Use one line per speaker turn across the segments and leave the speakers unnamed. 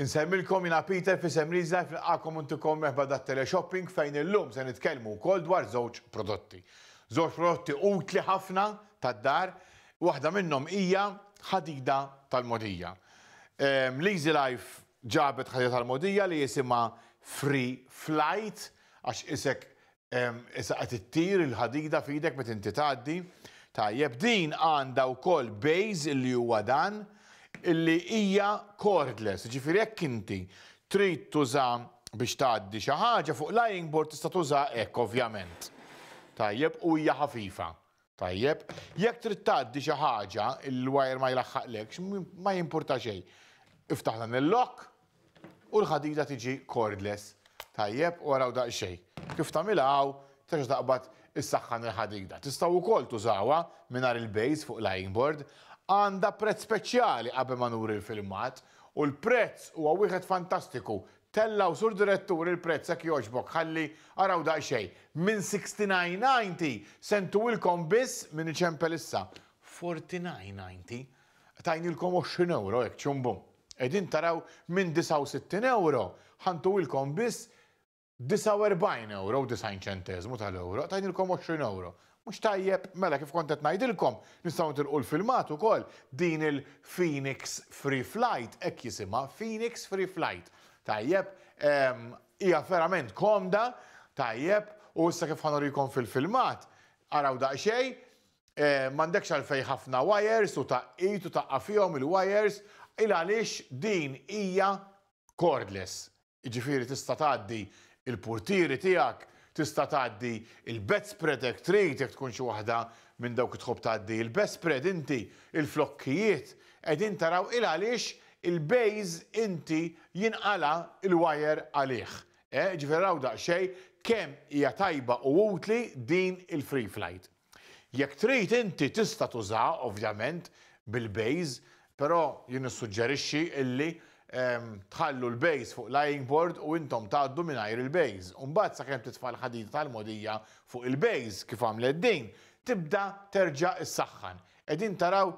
Insellmilkom jiena Peter f'isem Leazelife nilqagħkom u ntikom merħba dat-teleshopping fejn illum se nitkellmu wkoll dwar żewġ prodotti. Żewġ prodotti utli ħafna tad-dar, waħda minnhom hija ħadida tal-mogħdija. Leazelife ġabet ħadida tal-mogħdija li jisimha Free Flight għax isek Issa qed ittir il-ħadida f'idek meta inti tgħaddi. Tajjeb, din għandha wkoll bejż li huwa dan illi hija cordless, ġifieri jekk inti trid tuża biex tgħaddi xi ħaġa fuq lying board tista' tuża hekk ovvjament. Tajjeb, u hija ħafifa. Tajjeb, jekk trid tgħaddi xi ħaġa, il-wire ma jlaħħaqlekx, ma jimpurta xejn. Iftaħ dan il-lock u l-ħadida tiġi cordless. Tajjeb, u araw daqsxejn. Kif tagħmilha hawn, terġa' taqbad issaħħan il-ħadida. Tistgħu wkoll tużawha mingħajr il-base fuq l-ironing board. Għandha prezz speċjali qabel ma nuri l-filmat u l-prezz huwa wieħed fantastiku, Tellgħu Sur Direttur il-prezz hekk jogħġbok ħalli araw daqsxejn. Minn sixty nine ninety se ntuwilkom biss, min iċempel issa, forty nine ninety. Tajnielkom għoxrin ewro hekk ċum bum. Qegħdin taraw minn disgħa u sittin ewro ħa ntuwilkom biss disgħa u erbgħin ewro u disgħin ċenteżmu tal-ewro. Tajnielkom għoxrin ewro. Mhux tajjeb? Mela kif kont qed ngħidilkom, nistgħu nitilqu l-filmat ukoll, din il-Phoenix Free Flight, hekk jisimha, Phoenix Free Flight. Tajjeb, ehm, hija verament komda, tajjeb, u issa kif ħanurikom fil-filmat, araw daqsxejn, eh, m'għandekx għalfejn ħafna wires u taqqid u taqqa' fihom il-wires, il għaliex din hija cordless. Jiġifieri tista' tgħaddi l-purtieri tiegħek, tista' tgħaddi l-bedspread hekk trid jekk tkun xi waħda minn dawk li tħobb tgħaddi il-bedspread inti, il-flokkijiet, qegħdin taraw il għaliex il-bejż inti jinqala' l-wajer għalih. Eh, jiġifieri araw daqsxejn kemm hija tajba u utli din il-Freeflight. Jekk trid inti tista' tużaha ovvjament bil-base, però jien nissuġġerixxi illi tħallu l-base fuq l-eyeing board u intom tgħaddu mingħajr il-base. U mbagħad sakemm titfa' l-ħadida tal-mogħdija fuq il-base, kif għamlet din, tibda terġa' issaħħan. Qegħdin taraw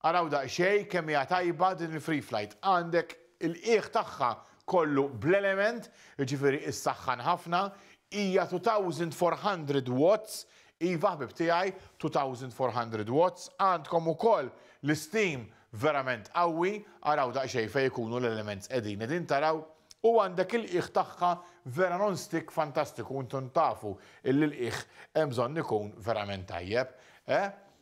Araw daqsxejn kemm hija tajba din il-Free Flight. Għandek il-qiegħ tagħha kollu bl-element, jiġifieri issaħħan ħafna, hija 2400 watts, iva ħbieb tiegħi 2400 watts, għandkom ukoll l-isteam verament qawwi, araw daqsxejn fejn ikunu l-elements qegħdin, qegħdin taraw? U għandek il-qiegħ tagħha vera non-stick fantastiku, intom tafu illi l-qiegħ hemm bżonn ikun verament tajjeb, eh?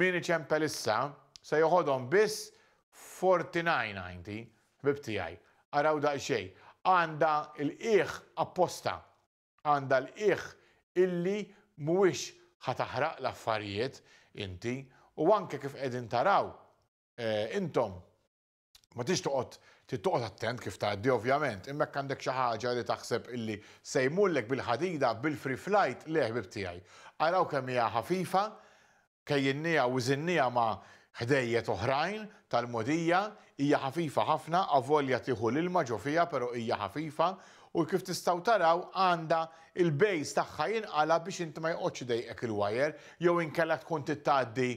Min iċempel issa, se joħodhom biss Forty-Nine Ninety, ħbieb tiegħi. Araw daqsxejn. Għandha l-qiegħ apposta. Għandha l-qiegħ illi mhuwiex ħa taħraq l-affarijiet inti u anke kif qegħdin taraw intom. Ma tix toqgħod trid toqgħod attent kif tgħaddi ovvjament, imma jekk għandek xi ħaġa li taħseb illi se jmullek bil-ħadida bil-free flight, le ħbieb tiegħi. Araw kemm hija ħafifa, kejjinniha u żinniha ma' ħdejjet oħrajn tal-mogħdija, hija ħafifa ħafna avolja tieħu l-ilma ġo fiha però hija ħafifa u kif tistgħu taraw għandha il-base tagħha jinqala' biex inti ma joqgħodx idejqek il-wire jew inkella tkun trid tgħaddi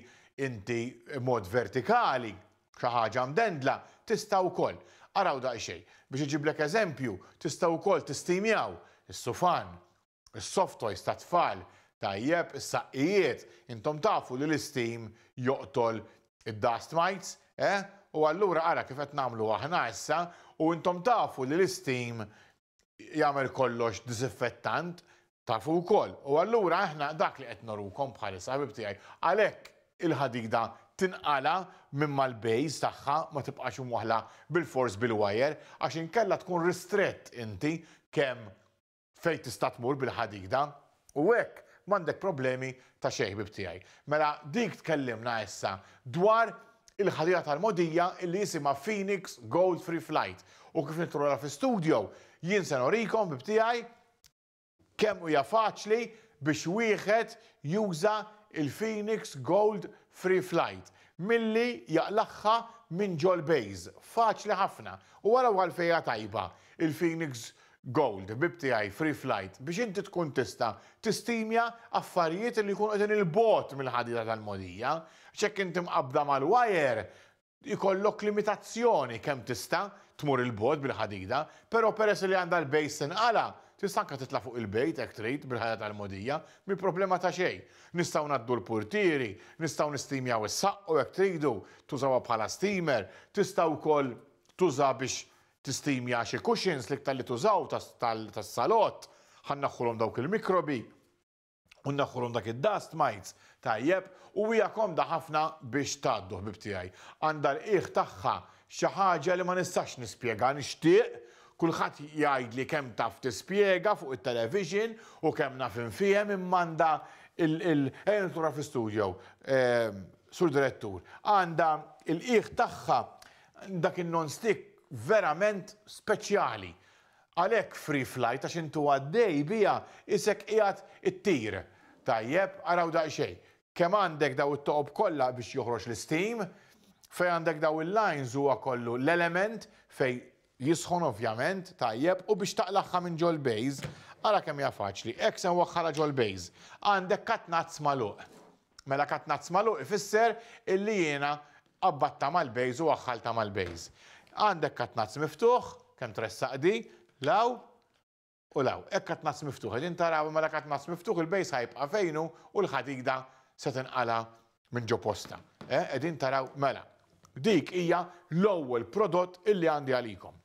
inti mod vertikali Xi ħaġa mdendla tista' wkoll. Araw daqsxejn. Biex iġiblek eżempju, tistgħu wkoll tistimjaw, is-sufan, is-soft toys tat-tfal, tajjeb, is-saqqijiet, intom tafu li l-isteam joqtol id-dust mites, eh? U allura ara kif qed nagħmlu aħna issa, u intom tafu li l-isteam jagħmel kollox diżinfettant tafu wkoll. U allura aħna dak li qed norukom bħalissa ħabib tiegħi. Għalhekk il-ħadida tinqala minn mal-bejs tagħha ma tibqax imwaħħla bilfors bil-wajer għax inkella tkun ristrett inti kemm fejn tista' tmur bil-ħadida. U hekk m'għandek problemi ta' xejn ħbieb tiegħi. Mela dik tkellimna issa dwar il-ħadida tal-mogħdija illi jisimha Phoenix Gold Free Flight u kif nidħlu lura fi studio jien se nurikom ħbieb tiegħi kemm hija faċli biex wieħed juża l-Phoenix Gold Free Flight milli jaqlagħha minn ġol-base. Faċli ħafna. U araw għalfejn hija tajba il-Phoenix Gold, ħbieb tiegħi, free flight, biex inti tkun tista' tistimja affarijiet li jkunu qegħdin 'il bogħod mill-ħadida tal-mogħdija, għax jekk inti mqabbda mal-wire, ikollok limitazzjoni kemm tista' tmur 'il bogħod bil-ħadida, però peress li għandha l-base tinqala', tista' anke titla' fuq il-bejt hekk trid bil-ħadida tal-mogħdija, mhi problema ta' xejn. Nistgħu ngħaddu l-purtieri, nistgħu nistimjaw is-saqq u jekk tridu tużawha bħala steamer, tista' wkoll tuża biex Tistimja xi cushions, l-iktar li tużaw tas-salott, ħa nneħħulhom dawk il-mikrobi u nneħħulhom dak id-dust mites, tajjeb, u hija komda ħafna biex tgħaddu ħbieb tiegħi. Għandha l-qiegħ tagħha xi ħaġa li ma nistax nispjega, nixtieq kulħadd jgħidli kemm taf tispjega fuq it-television u kemm naf infiehem imma għandha l-, ejja nidħlu fi studio, Sur Direttur, għandha l-qiegħ tagħha Dak in-non-stick verament speċjali. Għalhekk free flight għax int u għaddej biha isek qiegħed ittir. Tajjeb, araw daqsxejn. Kemm għandek daw it-toqob kollha biex joħroġ l-isteam. Fejn għandek daw il-lines huwa kollu l-element fejn jisħon ovvjament, tajjeb, u biex taqlagħha minn ġol-base, ara kemm hija faċli. Hekk se nwaħħalha ġol-base. Għandek cut nuts magħluq. Mela katnazz magħluq ifisser illi jiena qabbatta mal-base u aħħalta mal-base. Għandek katnazz miftuħ, kemm tressaq di, 'l hawn u 'l hawn. Hekk katnazz miftuħ, qegħdin taraw, mela katnazz miftuħ il-base ħa jibqa' fejn hu u l-ħadida se tinqala' minn ġo postha. Eh, qegħdin taraw? Mela, dik hija l-ewwel prodott illi għandi għalikom.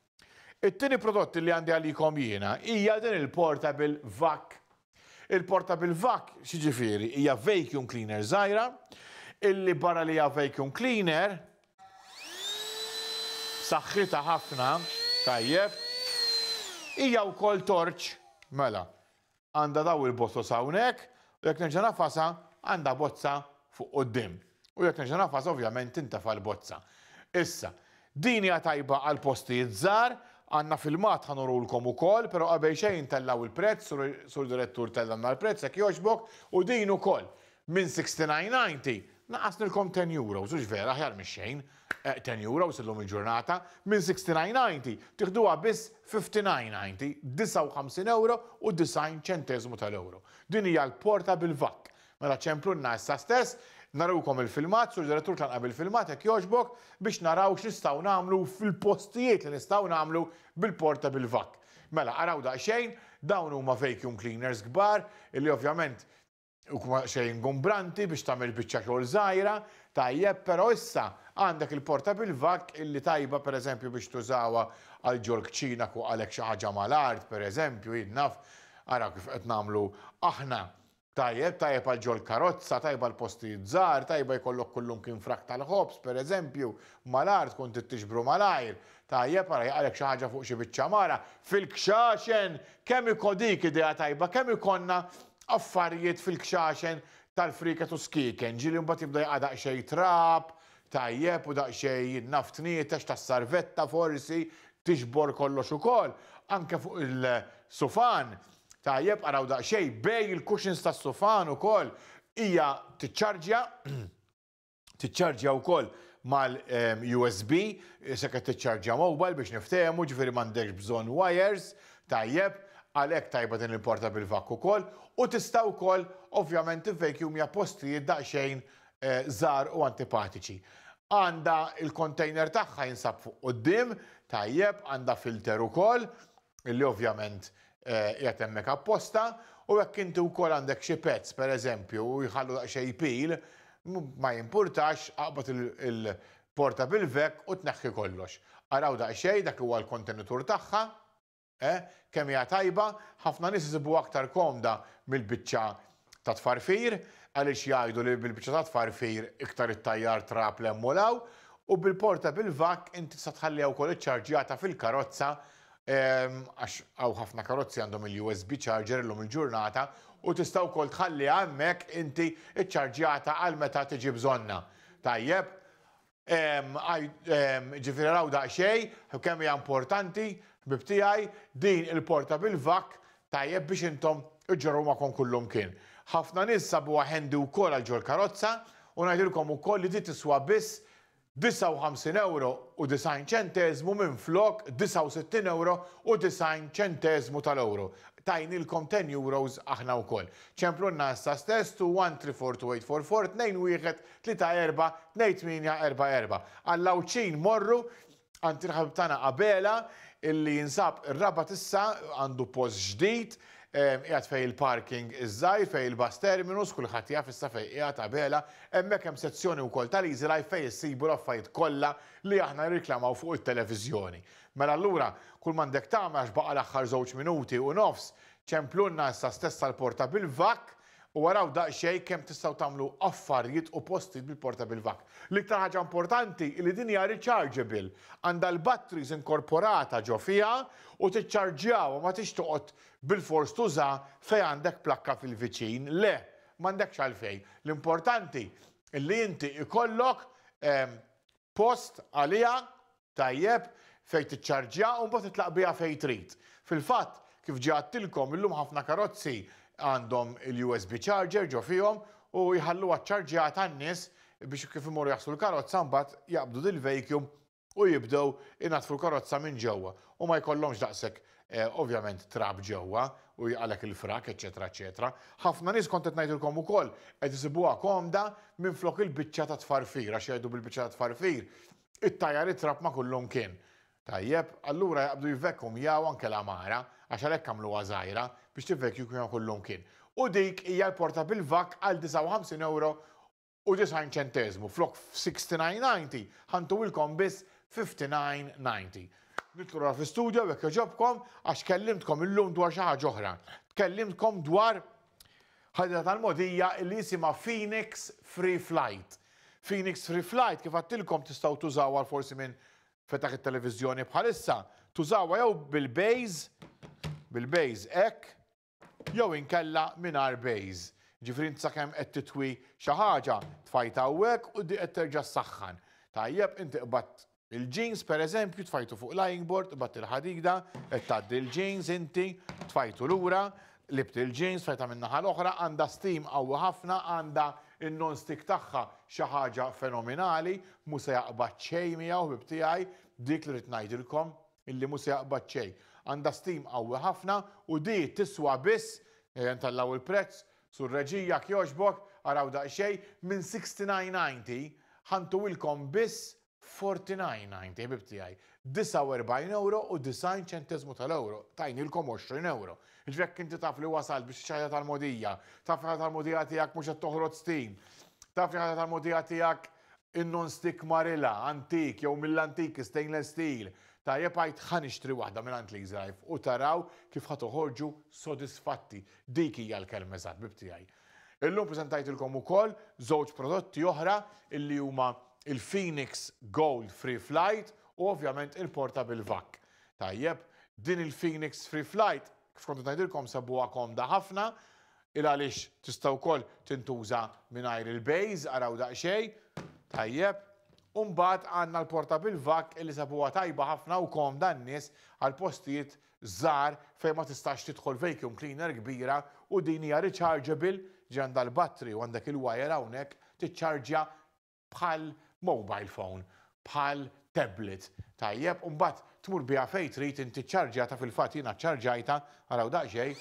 It-tieni prodott li għandi għalikom jiena hija din il-portable vac. Il-portable vac x'jiġifieri hija vacuum cleaner żgħira illi barra li hija vacuum cleaner saħħitha ħafna tajjeb hija wkoll torċ mela għandha daw il-botos hawnhekk u jekk nerġa' ngħafasha għandha bozza fuq quddiem. U jekk nerġa' ngħafasha ovvjament tintefa' l-bozza. Issa, din hija tajba għal postijiet żgħar, għandna filmat ħa nurulkom ukoll, però qabel xejn tellgħu l-prezz, sur Sur Direttur tellgħna l-prezz jekk jogħġbok, u din ukoll minn 69.90 naqqasnilkom ten euros, hux vera, aħjar mix-xejn. Ten Euro sa llum il-ġurnata, minn 69.90 tiħduha biss 59.90, 59 ewro u 90 ċenteżmu tal-ewro. Din hija l-porta bil-vakk. Mela ċemplunna issa stess, narukom il-filmat, Sur Direttur tlanqa' bil-filmat hekk jogħġbok, biex naraw x'nistgħu nagħmlu fil-postijiet li nistgħu nagħmlu bil-porta bil-vakk. Mela araw daqsxejn, dawn huma vacuum cleaners kbar, illi ovvjament, Huwa xejn ingombranti biex tagħmel biċċa xogħol żgħira, tajjeb, però issa għandek il-portable vac illi tajba pereżempju biex tużawha għal ġol-kċina kuqalek xi ħaġa mal-art pereżempju, jien naf, ara kif qed nagħmlu aħna, tajjeb, tajjeb għal ġol-karozza, tajba għal postijiet żgħar, tajba jkollok kullumkien frak tal-ħobż pereżempju, mal-art tkun trid tiġbru malajr, Tajjeb, ara jaqalek xi ħaġa fuq xi biċċa mara fil-kxaxen! Kemm iko dik idea tajba, kemm ikollna affarijiet fil-kxaxen tal-frieket u skieken, ġieli mbagħad jibda jaqa' daqsxejn trab, tajjeb, u daqsxejn jinnaf tnietex tas-sarvetta forsi, tiġbor kollox ukoll, anke fuq il-sufan, tajjeb, araw daqsxejn bejn il-cushions tas-sufan ukoll, hija tiċċarġja, tiċċarġja wkoll mal-USB, se qed tiċċarġja mobile biex niftehmu, ġifieri m'għandekx bżonn wires, tajjeb, għalhekk tajba din il-portable vac ukoll, u tista' wkoll ovvjament tivvejkjumja postijiet daqsxejn eh, żgħar u antipatiċi. Għandha il-container tagħha jinsab fuq quddiem, tajjeb, għandha filter ukoll, illi ovvjament qiegħed hemmhekk apposta u jekk inti wkoll għandek xi pets pereżempju u jħallu daqsxejn jpil, ma jimpurtax aqbad il-portable vac u tneħħi kollox. Araw daqsxejn dak li huwa l-kontenitur tagħha, eh, kemm hija tajba, ħafna nies isibuha aktar komda mill-biċċa ta' tfarfir għaliex jgħidu li bil-biċċa ta' tfarfir iktar ittajjar trab 'l hemm u 'l hawn u bil-portable vac inti tista' tħalliha wkoll iċċarġjata fil-karozza għax hawn ħafna karozzi għandhom il-USB charger illum il-ġurnata u tista' wkoll tħalliha hemmhekk inti iċċarġjata għal meta tiġi bżonnha. Tajjeb? Ġifieri raw daqsxejn kemm hija importanti, ħbieb tiegħi, din il-portable vac tajjeb biex intom iġġorruha magħkom kullimkien. Ħafna nies sabuha handy wkoll għal ġol-karozza u ngħidilkom ukoll li di tiswa biss €59 u 90 ċenteżmu minflok €69 u 90 ċenteżmu tal-ewro. Tajnielkom €10 aħna wkoll. Ċemplulna issa stess to 134284 tnejn wieħed tlieta erbgħa tnejn tmienja erbgħa erbgħa. Għall-Għawdxin morru għand il-ħabib tagħna Abela illi jinsab ir-Rabat issa għandu post ġdid qiegħed fejn il-parking iż-żgħir fejn il-bus terminus kulħadd jaf issa fejn qiegħed Abela hemmhekk hemm sezzjoni wkoll tal-Easy Life fejn issibu l-affarijiet kollha li aħna nirriklamaw fuq it-televiżjoni. Mela allura kull m'għandek tagħmel għax baqa' l-aħħar żewġ minuti u nofs ċemplulna issa stess għall-porta bil-vakk U araw daqsxejn kemm tistgħu tagħmlu affarjiet u postijiet bil-portable vac. L-iktar ħaġa importanti hi li din hija rechargeable, għandha l-batteries inkorporata ġo fiha u tiċċarġjawha m'għadhiex toqgħod bilfors tuża fejn għandek plakka fil-viċin, le, m'għandekx għalfejn. L-importanti hi li inti jkollok post għaliha Tajjeb, fejn tiċċarġja u mbagħad titlaq biha fejn trid. Fil-fatt, kif ġie għadtilkom, illum ħafna karozzi għandhom il-USB charger ġo fihom u jħalluha ċċarġjata n-nies biex kif imorru jaħslu l-karozza mbagħad jaqbdu dil-vacuum u jibdew inaddfu l-karozza minn ġewwa u ma jkollhomx daqshekk ovvjament trab ġewwa u jgħalek il-frak, eċċetera, eċċetera. Ħafna nies kont qed ngħidilkom ukoll qed isibuha komda minflok il-biċċa tat-tfarfir għax jgħidu bil-biċċa tat-tfarfir It-tajjar itrab ma' kullum kien. Tajjeb, allura jaqbdu jivvekumjaw anke l-għamara, għax għalhekk għamluha żgħira, biex tivvekjukmja kullum kien. U dik hija l-porta bil-vakk għal 59 ewro u 90 ċenteżmu, flok f' 69.90, ħa ntuwilkom biss 59.90. Nidħlu lura fl-istudjow jekk jogħġobkom, għax kellimtkom illum dwar xi ħaġa oħra. Tkellimtkom dwar. Ħaditha tal-mogħdija li jisimha Phoenix Free Flight. Phoenix Free Flight kif għadtilkom tistgħu tużawha forsi min fetaħ it-televiżjoni bħalissa, tużawha jew bil-bejż, bil-bejż hekk, jew inkella mingħajr bejż. Ġifieri int sakemm qed titwi xi ħaġa tfajta hawnhekk u di qed terġa' ssaħħan. Tajjeb, inti qbadt Il-jeans pereżempju tfajtu fuq lying board, ibatt il-ħadida, qed tgħaddi l-jeans inti, tfajtu lura, libt il-jeans, tfajta min-naħa l-oħra, għandha steam qawwi ħafna, għandha n-non-stick tagħha xi ħaġa fenominali, mhu se jaqbad xejn miegħu ħbieb tiegħi, dik li rrid ngħidilkom, illi mhu se jaqbad xejn. Għandha steam qawwi ħafna u di tiswa biss, ejja ntellgħu l-prezz, Sur Reġija jekk jogħġbok, araw daqsxejn, minn 69.90, ħa ntuwilkom biss Forty-nine ninety, ħbib tiegħi. 49 ewro u 90 ċenteżmu tal-ewro. Tajnielkom 20 ewro. Jiġifieri jekk inti taf li wasalt biex tixtri ħajta tal-mogħdija, taf li ħajta tal-mogħdija tiegħek mhux qed toħrod stin, taf li ħajta tal-mogħdija tiegħek in-non stick marilha, antik jew mill-antiki, stainless steel, tajjeb għid ħa nixtri waħda minn għand Lease Life u taraw kif ħa toħorġu sodisfatti. Dik hija l-kelma eżatt, ħbib tiegħi. Illum preżentajtilkom ukoll żewġ prodotti oħra illi huma il-Phoenix Gold Free Flight u ovvjament il-Portable Vac. Tajjeb, din il-Phoenix Free Flight kif kont qed ngħidilkom sebuha komda ħafna il għaliex tista' wkoll tintuża mingħajr il-base, araw daqsxejn, tajjeb. U mbagħad għandna l-Portable Vac illi sebuha tajba ħafna u komda n-nies għal postijiet żgħar fejn ma tistax tidħol vacuum cleaner kbira u din hija rechargeable, ġifieri għandha l-battery u għandek il-wire hawnhekk tiċċarġja bħal mobile phone, bħal tablet, tajjeb, u mbagħad tmur biha fejn trid inti ċċarġjata fil-fatt jiena ċċarġajtha, araw daqsxejn,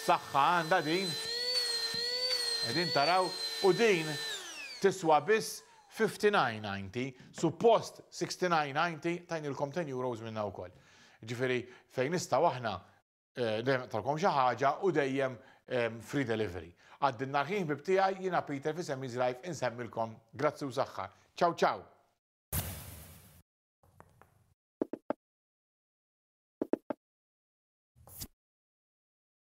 saħħa għandha din, qegħdin taraw, u din tiswa biss 59.90, suppost 69.90, tajnilkom 10 euros minnha wkoll. Jiġifieri fejn nistgħu aħna dejjem naqtgħulkom xi ħaġa u dejjem free delivery. Għaddi n-nhar ħin ħbieb tiegħi, jiena Peter f'isem Easy Life insemmilkom grazzi u saħħa. Ciao ciao!